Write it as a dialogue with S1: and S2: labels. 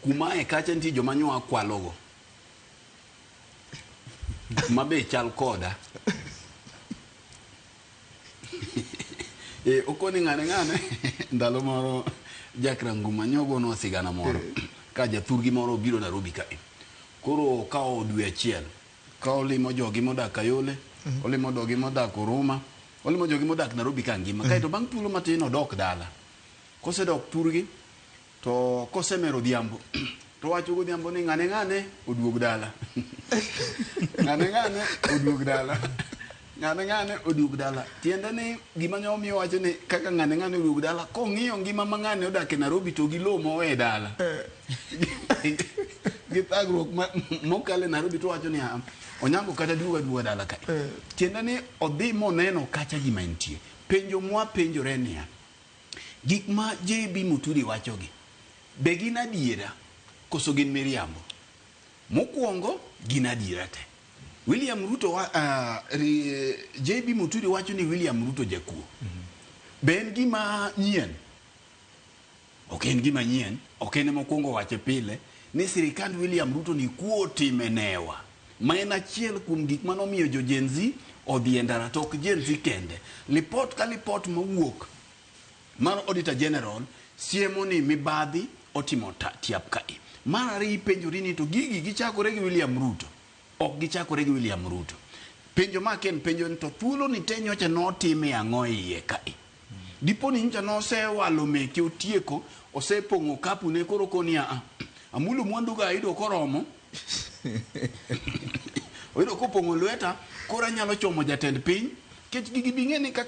S1: kuma e kacha nitie joma nyoa kwalogo ma be chal koda e, okoni ng'ane ng'ane ndalo moro jakranguma nyogono sigana moro eh. ka jathurgi moro obiro narobi kae koro okawo dwe achiel ka olimo jogi modak kayole mhm. olimo dogi modak oruma olimo jogi modak narobi ka ngima mhm. kaeto bang' thuolo matin odok dala Kosedok thurgi to kosemer odhiambo to owacho godhiambo ni ng'ane ng'ane oduog dala. Ng'ane ng'ane oduog dala. Ng'ane ng'ane oduog dala. Tiende ni gima nyo omiyo wacho ni kaka ng'ane ng'ane oduog dala kong'iyo ngima ma ng'ane odak e Nairobi to gi low mowe e dala. Gi thagruok ma- mokale Nairobi to wacho ni "Ah, Onyango kata duoga duoga dala ka. Tiende ni odhi moneno kacha gima entie. Penjo mwapenjore niya, Gik ma JB Muturi wachogi, be gin adiera koso gin miriambo? Mokwongo, gin adiera te. William Ruto wa, uh, ri, JB Muturi wacho ni William Ruto jakuo. Be en gima nyien? Ok en gima nyien, ok en mokwongo wache pile ni sirikand William Ruto ni kuo otimenewa. ma en achiel kuom gik mane omiyo jo Gen Z odhi e ndara to ok Gen Z kende. Lipot ka lipot mawuok mar Auditor General siemo ni mibadhi otimo tiap kae. Mar ariyo ipenjori ni to gigi gichakore gi William Ruto? Ok gichakore gi William Ruto. Penjo ma ken penjo en to thuoloni te nyocha notime ang'o e iye kae? Dipo ni nyocha nosewalo meke otieko, osepong'o okapune koro okoni ni aa, amulo mwanduga ayudo koromo. Oyudo kopong'o lweta koro anyalo chomo jatend piny. Nikech gigi bing'e ni kaka